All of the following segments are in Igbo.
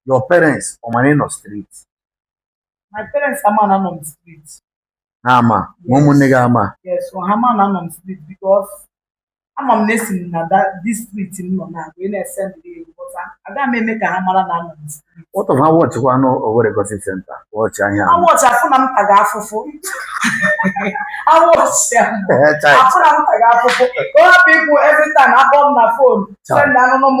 your parents ọ ma na ị nọ street my parents ama na anọ m street ha ama ma ụmụnne gị ama yes so ha ma na anọ m street because ama m na esi m na that- this street m nọ na wee na-esendị ego but agaghị m eme ka ha mara na anọ m street what of ha wọchịkwanụ Owerri Gossip Center wọchịa ya ha wọchịa fụ na m taga afụfụ awọchị ahụ Ee, chai. afụna m taga afụfụ ka ọ hapụ ikwu every time a kpọ m na fon Chai. send anụnụ m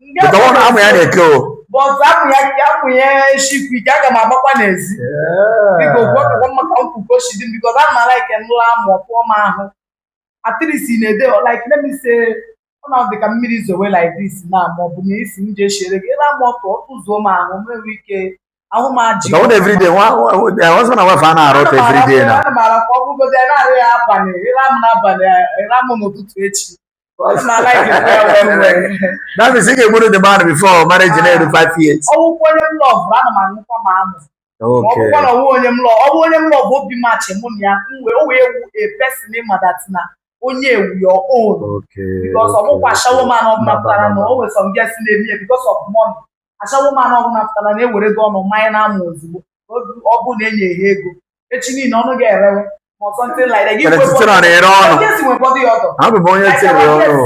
Nke ọ na amụ ya na-eke o. but amụ ya ka amụ ya shikwu ike aga m agbakwa n'ezi biko gwakwa maka nkwukọ si dị m because a mara ike nụla amụ ọ pụọ m ahụ at least na-ede like let me say ọ na dị ka mmiri zowe like this na ma ọ bụ na isi m je chere gị ebe amụ ọtụ ọtụ zuo m ahụ m enwe ike ahụ m ajị Ka ọ dị everyday nwa husband and wife a na-ara ọtụ everyday na. ana m ara ka ọ bụgozi ya na-arị ya abalị ị ra m n'abalị ị ra m n'ụtụtụ echi That is ike gburu the man before marriage a na-eru five years. Ọ bụkwa onye m lọvụ ana m aṅụkwa ma amụ. Ọ bụkwa na ọ wụ onye m lọvụ ọ bụ onye m lọvụ obi maachị mụ na ya mgbe o wee wu a person ị ma that na onye a wụ your own. Because ọ bụkwa ashawo man ọ bụla pụtara na o nwere some girls na-eme ya because of money. ashawo man ọ bụla pụtara na ewere gị ọnụ manye n'amụ ozugbo ọ bụ na e nye ha ego ihe niile ọnụ ga-erewe abụ m onye tiri ọnụ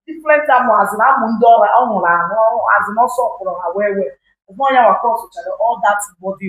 different amụ azụ na amụ ndị ọrụ ọ nwụrụ ahụ azụ na ọsọ ọkpọrọ ha wee wee ụgbọ ya wakọ sụchara all that body